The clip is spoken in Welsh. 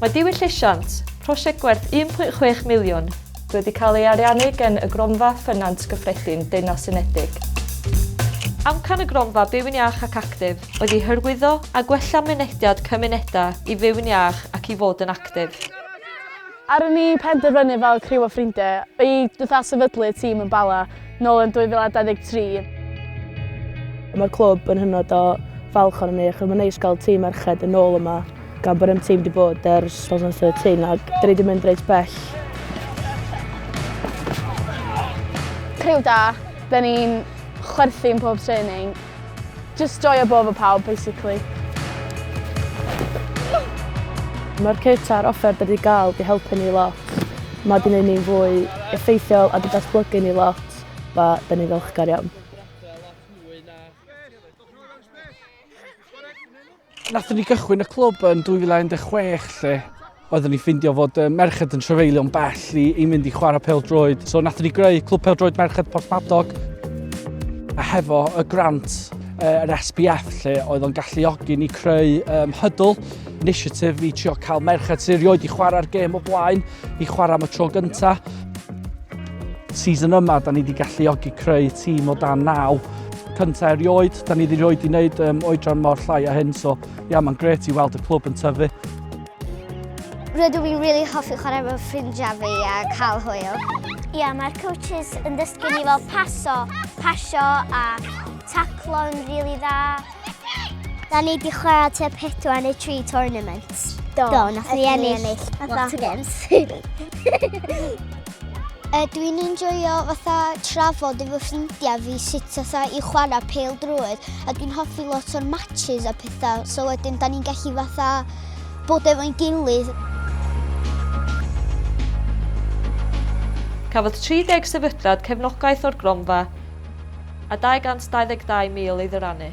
Mae Diwylliant, prosiect gwerth 1.6 miliwn, wedi cael ei ariannu gan y Gronfa Ffynant Gyffredin Deyrnas Unedig. Amcan y Gronfa Byw'n Iach ac Actif oedd i hyrwyddo a gwella mynediad cymunedau i fyw'n iach ac i fod yn actif. Ar ôl ni penderfynu fel criw o ffrindiau i fatha sefydlu tîm yn Bala nôl yn 2023, Mae'r clwb yn hynod o falch ohonom ni achos mae'n neis cael tîm merched yn ôl yma gan bod ein tîm wedi bod ers 2013 ac dan ni wedi mynd reit bell. Criw da, dan ni'n chwerthin pob training. Just joio bod efo pawb, basically. Mae'r cyrta a'r offer da wedi gael di helpu ni lot. Mae wedi gwneud ni'n fwy effeithiol a di datblygu ni lot. Ba, da ni ddiolchgar iawn. Nathon ni gychwyn y clwb yn 2016 lle oeddwn ni ffindio fod y merched yn trefeilio'n bell i, i mynd i chwarae pel droed. So nathon ni greu clwb pel droed merched Porthmadog a hefo y grant yr uh, SPF lle oedd o'n galluogi ni creu um, hydl initiative i trio cael merched sy'n rioed i chwarae'r gêm o blaen i chwarae am y tro gyntaf. Season yma, da ni wedi galluogi creu tîm o dan naw cyntaf erioed, da ni wedi rhoi di wneud um, oedran mor llai a hyn, so ia, yeah, mae'n gret i weld y clwb yn tyfu. Rydw i'n really hoffi chwarae efo ffrindiau fi a cael hwyl. Ia, yeah, mae'r coaches yn dysgu ni fel paso, pasio a taclo yn really dda. Da ni wedi chwarae te 4 neu 3 tournament. Do, Do nath ni ennill. Lot o games. E, dwi'n enjoyo fatha trafod efo ffrindiau fi sut fatha i chwarae pel drwydd a dwi'n hoffi lot o'r matches a pethau so wedyn da ni'n gallu fatha bod efo'n gilydd Cafodd 30 sefydliad cefnogaeth o'r gronfa a 222,000 ei ddyrannu.